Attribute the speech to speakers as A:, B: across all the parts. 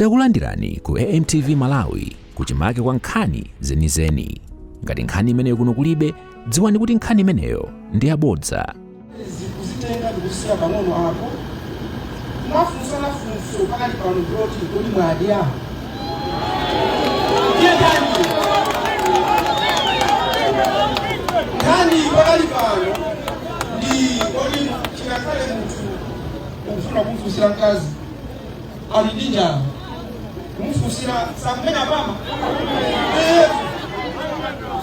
A: Takulandirani ku AMTV Malawi kuchimake kwa nkhani zenizeni. Ngati nkhani imeneyo kuno kulibe, dziwani kuti nkhani imeneyo ndi yabodza. zikutenga
B: ndikusiya pang'ono apo mwafunsa funso pakati pano kuti kodi mwadya. Nkhani pakati pano ndi kodi chikakhale munthu ukufuna kumfunsira mkazi ali ndi njala kumufunsira sakumene apama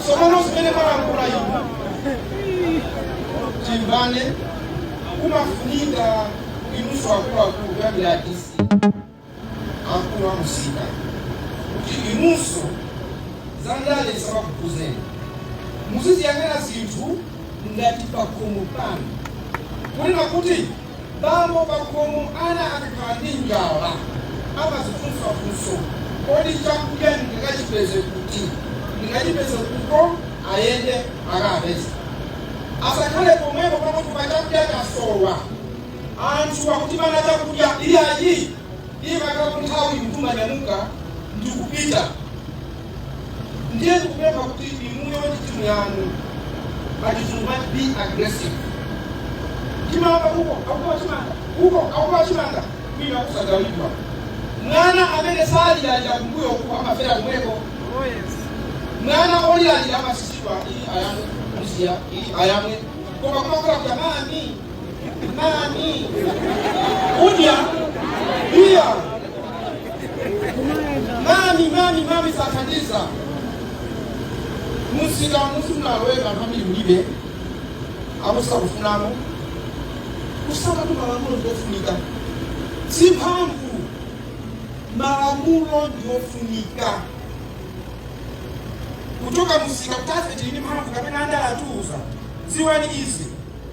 B: somano zimene malankhula inu timvane kumafunika inunso akuluakulu kuyambira a DC akulu amusika kuti inunso za ndale zisamakukhuzeni muziziyang'ana zinthu ngati pakhomo panu kunena kuti Bambo pakhomo ana akakhala ndi njala amadzifunsa funso, Kodi chakudya ndingachipeze kuti? Ndingachipeze kutiko? Ayende akapeze. Asakhale pomwepo pakuti pa chakudya chasowa. Anthu akutimana chakudya. Iyayi, imakhala kuti nthawi munthu umanyamuka ndi kupita. ndiye ndikupempha kuti inuyo ndi timu yanu must be aggressive chimanga uko akuba chimanga kwina kusagawidwa mwana amene saliralira kumbuyo uku amafera kumweko mwana oliralira amatsitsidwa iyi ayamwe musiya iyi ayamwe koma kumakhala kuti mami mami kudya iya mami mami mami sathandiza musika musunaloweka anthu ambiri kulibe akusa kufunamo kusakatu malamulo ndiofunika si mphamvu malamulo ndiofunika kuchoka musika kutafiti ndi mphamvu kapena andala atuuza ziwani izi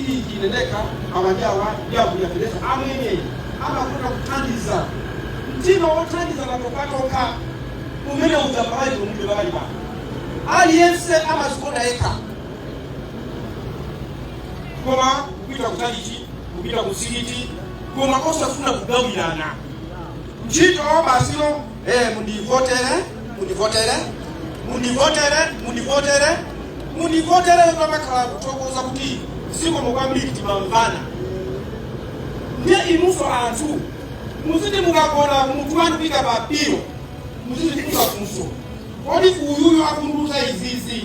B: Iii ine ndekha awa ndi awa ndi a Vunya Peleza amene amatha kuthandiza. Mtima wothandiza pakhopakhoka umene uja Amalawi mulibe pakali pano. Aliyense amazikonda yekha. Koma kupita ku chalichi, kupita ku msikiti koma osafuna kugawirana. Ntchito basi yo. Eh, mundivotere mundivotere mundivotere mundivotere mundivotere pamakhala kuthokoza kuti zikomo kwambiri timamvana ndiye inuso anthu muziti mukagona munthu wanu uika pa pilo muzidzifunsa funso kodi uyuyo akundiuza izizi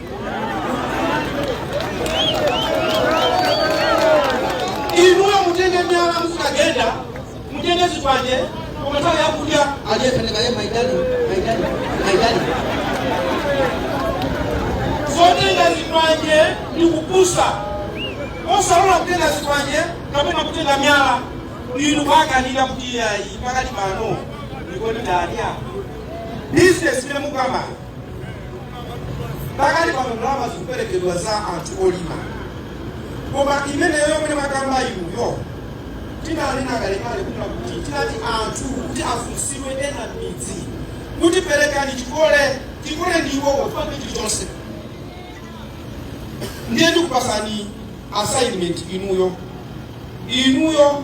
B: inuyo mutenge miyala muzikagenda mutenge zikwanje omatala yakulya alyetendekaye maidani zotenga zikwanje ni kupusa osalola kutenga zikwanje kapena kutenga miyala inu kuwakanira kuti ayi pakati pano ndikoti ndadya bizinesi imene mukamba pakali pano ndalama zikuperekedwa za anthu olima koma imeneyo yomwe mwakamba inuyo tinanena kalekale kuna kuti tinati anthu kuti afunsidwe ena m'midzi kuti perekani chikole chikole ndi iwowo chipande chilichonse ndiye ndikupasani assignment inuyo inuyo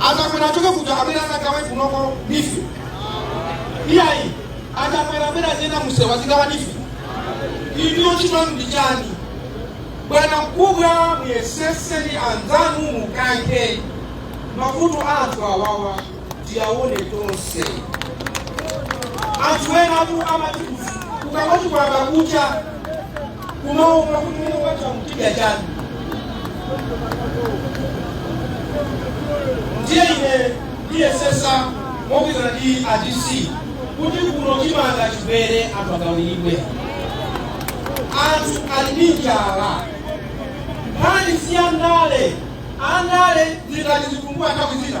B: a Chakwera achoke kuja abwere azagawe kunoko NEEF iyayi a Chakwera abwere azienda mumsewu azigawa NEEF inuyo ntchito yanu ndi chani bwana mkubwa muyesese ni anzanu mukaike mavuto a anthu awawa tiyaone tonse anthu enatu amati kukangoti kwayamba kucha kumaopa kuti mmene kwacha tidya chani ndiye ine ndiyesesa mogwirizana ndi a DC kuti kuno chimanga chibwere anthu agawiridwe anthu ali ndi njala nkhani si ya ndale andale ndikati zitumbua nthawi zina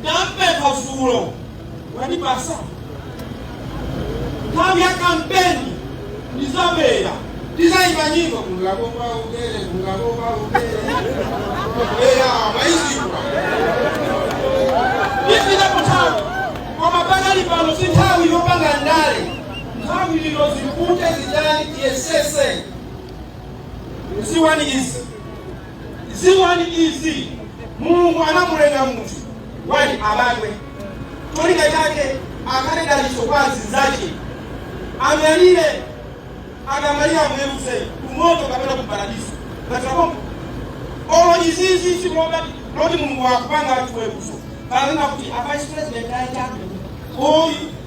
B: Ndampempha dzulo wandipasa nthawi ya kampeni ndizabwera ndizayimba nyimbo kungakopa ubere kungakopa ubere era mwaizikwa ndipita kuthawi koma pakali pano si nthawi yopanga ndale nthawi lino zikute zidani tiyesese ziwani izi Dziwani izi, Mulungu anamulenga munthu woti abadwe cholinga chake akhale dalitso kwa azinzache, amwalire akamwalira amweruze kumoto kapena kuparadiso ngatiakongo olo izizi zikuloba loti Mulungu akupanga atiweruze panena kuti a vice president aita oyi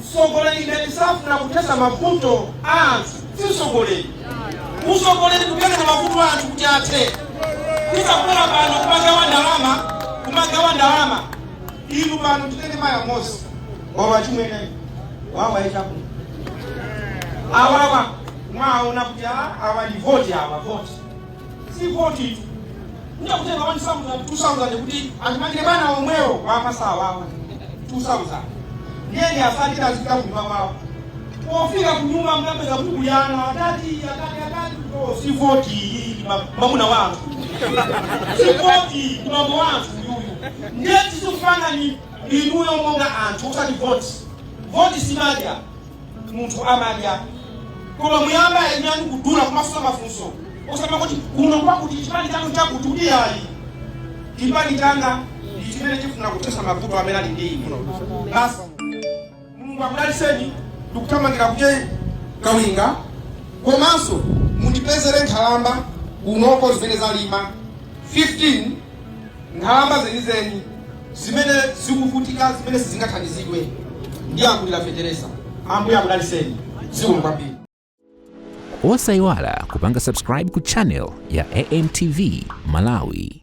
B: Mtsogoleri ngati safuna kuthesa mavuto a anthu si utsogoleri. Utsogoleri ndi kuyang'ana mavuto a anthu kuti athe. Si kubwera pano kumagawa ndalama. Inu pano titenge mayi amodzi wawa achimwene wawa ichakuno awawa mwaona kuti a- awa ndi voti awa voti si votitu kuja kutenga 2000 kuti atimangire bana omwewo amasawawa 2000 ndiye asatira azipita kunyumba kwawo pofika kunyumba mukapeza kukuyana atati atati atati oh, si voti iyi ndi ma- mamuna wathu si voti ndi mambo wathu uyuyu ndiye tizikupangani inuyo monga anthu osati voti voti simadya munthu amadya koma muyamba ayinyani kudula kumafunsa mafunso osamati kuno kwakuti chipani chanu chakuti kuti ayi chipani changa ndi chimene chifuna kuthesa mavuto amene ali ndi ine basi mulungu akudaliseni ndikuthamangira kwa ta kawinga komanso mundipezere nkhalamba kunoko zimene zalimba 15 Nkhalamba zenizeni zimene zikuvutika zimene sizingathandizidwe ndiye akulira fetereza. Ambuye akudaliseni zikomo
A: kwambiri. Osayiwala kupanga subscribe ku channel ya AMTV Malawi.